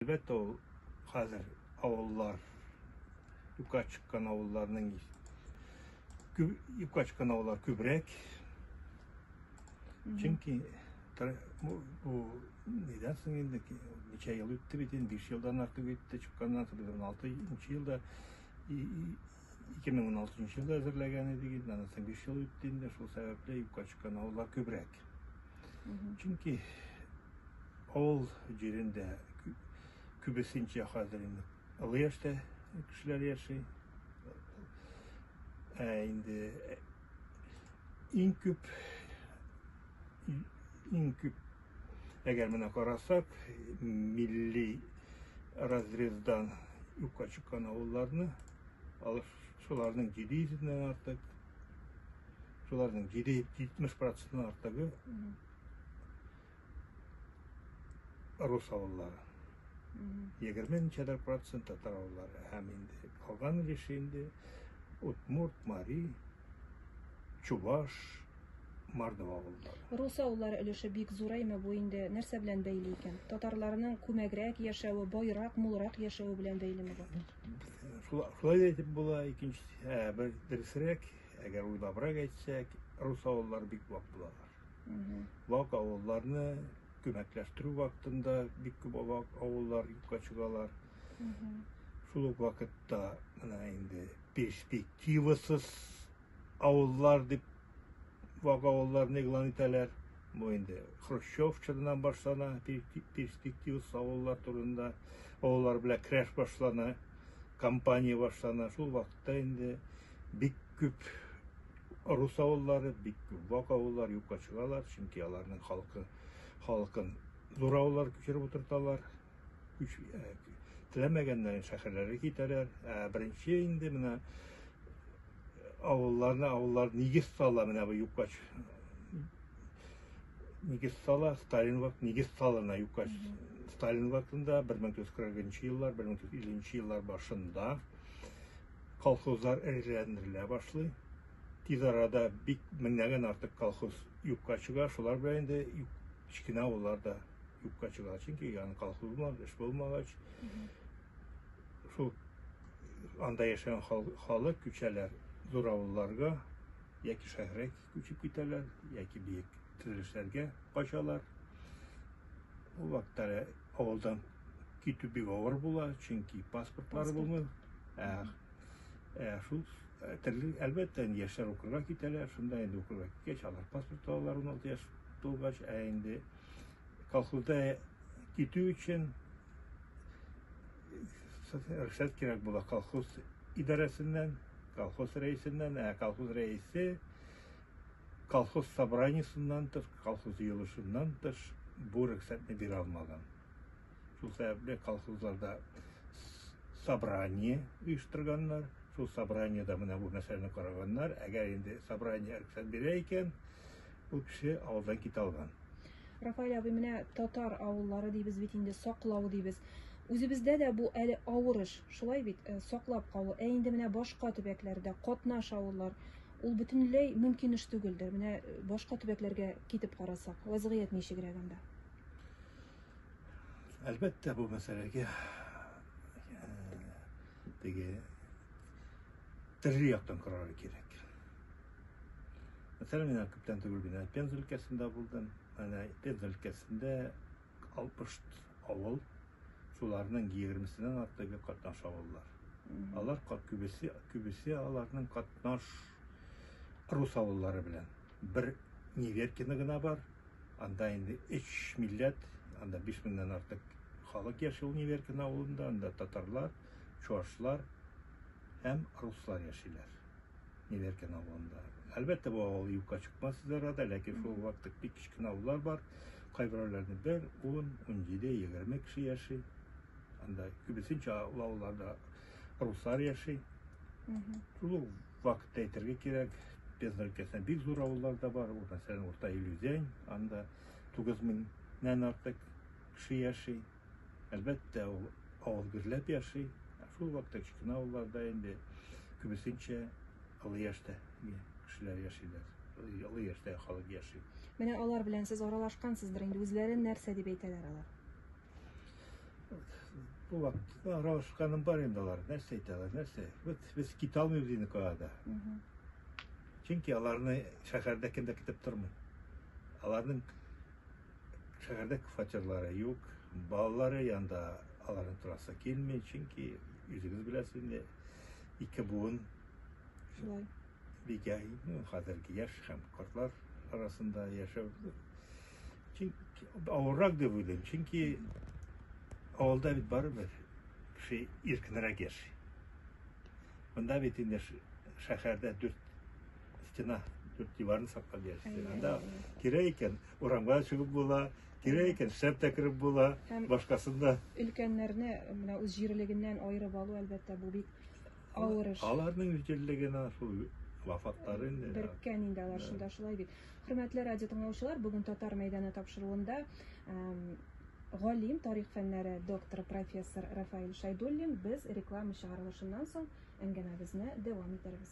Әлбәттә, ул хәзер авыллар, юкка чыккан авылларның юкка чыккан авыллар күбрәк. Чөнки бу нидән соң инде ничә ел үтте бит инде, 5 елдан артык үтте чыкканнан соң, без 16 елда 2016 елда әзерләгән идек инде, анысы 5 ел үтте инде, шул сәбәпле юкка чыккан авыллар күбрәк. Чөнки авыл җирендә күбесенчә хәзер инде олы яшьтә кешеләр яши. Ә инде иң күп иң күп Әгәр менә карасак, милли разрездан юкка чыккан авылларны, шуларның 700 дән артык, шуларның 770 процентын артыгы рус авыллары. 20 ничәдер процент татар авыллары һәм инде калган өлеше инде удмурт, мари, чуваш, Мордва булды. Русаулар өлеше бик зураймы бу инде нәрсә белән бәйле икән? Татарларның күмәгрәк яшәве, байрак, мулрак яшәве белән бәйлеме бу? Шулай да әйтеп була, икенчесе, ә бер дөресрәк, әгәр уйлабрак әйтсәк, рус авыллары бик вак булалар. Вак авылларны күмәкләштерү вакытында бик күп вак авыллар юкка чыгалар. Шул ук вакытта менә инде перспективасыз авыллар дип вак авылларны игълан итәләр. Бу инде Хрущев чорыннан башлана, перспективас авыллар турында, авыллар белән крәш башлана, компания башлана. Шул вакытта инде бик күп рус авыллары, бик күп вак авыллар юкка чыгалар, чөнки аларның халкы халкын зур авыллар күчереп утырталар. Үч, ә, теләмәгәннәрен шәһәрләргә китәрәр. Ә беренче инде менә авылларны авыллар нигез сала менә бу юккач нигез сала сталин вакыт нигез салына юккач сталин вакытында 1940 еллар 1950 еллар башында колхозлар эреләндерелә башлый тиз арада бик меңнәгән артык колхоз юкка чыга шулар белән инде кечкенә авылларда юкка чыга. Чөнки яны колхоз булмагач, эш булмагач, шул анда яшәгән халык күчәләр зур авылларга, яки шәһәргә күчеп китәләр, яки биек төзелешләргә качалар. Ул вакытта авылдан китү бик авыр була, чөнки паспортлары булмый. Ә, ә шул ә, төрле, әлбәттә, яшьләр укырга китәләр, шунда инде укырга киткәч, алар паспорт алалар 16 яшь тулгач, ә инде колхозда китү өчен рөхсәт кирәк була колхоз идарәсеннән, колхоз рәисеннән, ә колхоз рәисе колхоз собраниесеннән тыш, колхоз җыелышыннан тыш бу рөхсәтне бирә алмаган. Шул сәбәпле колхозларда собрание оештырганнар, шул собраниедә менә бу мәсьәләне караганнар. Әгәр инде собрание рөхсәт бирә икән, Ул кеше авылдан китә алган. Рафаэль абый, менә татар авыллары дибез бит инде, саклау дибез. Үзебездә дә бу әле авыр эш, шулай бит, э, саклап калу. Ә инде менә башка төбәкләрдә катнаш авыллар, ул бөтенләй мөмкин эш түгелдер. Менә э, башка төбәкләргә китеп карасак, вазгыять ничегрәк анда? Әлбәттә, бу мәсьәләгә э, теге төрле яктан карарга кирәк. Мәсәлән, мин күптән түгел генә Пенза өлкәсендә булдым. Әнә Пенза өлкәсендә 60 авыл, шуларның 20-сеннән артыгы катнаш авыллар. Алар күбесе, күбесе аларның катнаш рус авыллары белән. Бер Неверкина гына бар, анда инде 3 милләт, анда 5 меңнән артык халык яши ул Неверкина авылында, анда татарлар, чуашлар һәм руслар яшиләр. Неверкин авылында. Әлбәттә, бу авыл юкка чыкмас иде арада, ләкин шул вакыт бик кечкенә авыллар бар. Кайберәүләрне бер, ун, унҗиде, егерме кеше яши. Анда күбесенчә авылларда руслар яши. Шул ук вакытта әйтергә кирәк, Пенза өлкәсендә бик зур авыллар да бар. Ул мәсәлән, Урта Илүзән, анда 9000 нән артык кеше яши. Әлбәттә, ул авыл гөрләп яши, ә шул вакытта кечкенә авылларда инде күбесенчә олы яшьтә кешеләр яшиләр, олы яшьтә халык яши. Менә алар белән сез аралашкансыздыр инде, үзләрен нәрсә дип әйтәләр алар? Бу вакытта аралашканым бар инде алар, нәрсә әйтәләр, нәрсә? Вот без китә алмыйбыз инде калада. Чөнки аларны шәһәрдә кем дә көтеп тормый. Аларның Шәһәрдә фатирлары юк, балалары янда аларның торасы килми, чөнки үзегез беләсез инде, ике буын Шулай. бигә ну, хәзерге яшь һәм картлар арасында яшәү чөнки авыррак дип уйлыйм, чөнки авылда бит барыбер кеше иркенрәк яши. Монда бит инде ш- шәһәрдә дүрт стена, дүрт диварны саклап яши. Әйе, Анда әйе. кирәк икән, урамга да чыгып була, кирәк икән шәп тә кереп була, Һәм- башкасын да. Өлкәннәрне менә үз җирлегеннән аерып алу, әлбәттә, бу бик авыр эш. Аларның җирлегенә шул вафатлары инде. Беркән инде алар шунда шулай бит. Хөрмәтле радио тыңлаучылар, бүген Татар мәйданы тапшыруында эм, галим, тарих фәннәре докторы профессор Рафаил Шайдуллин без реклама чыгарылышыннан соң әңгәмәбезне дәвам итәрбез.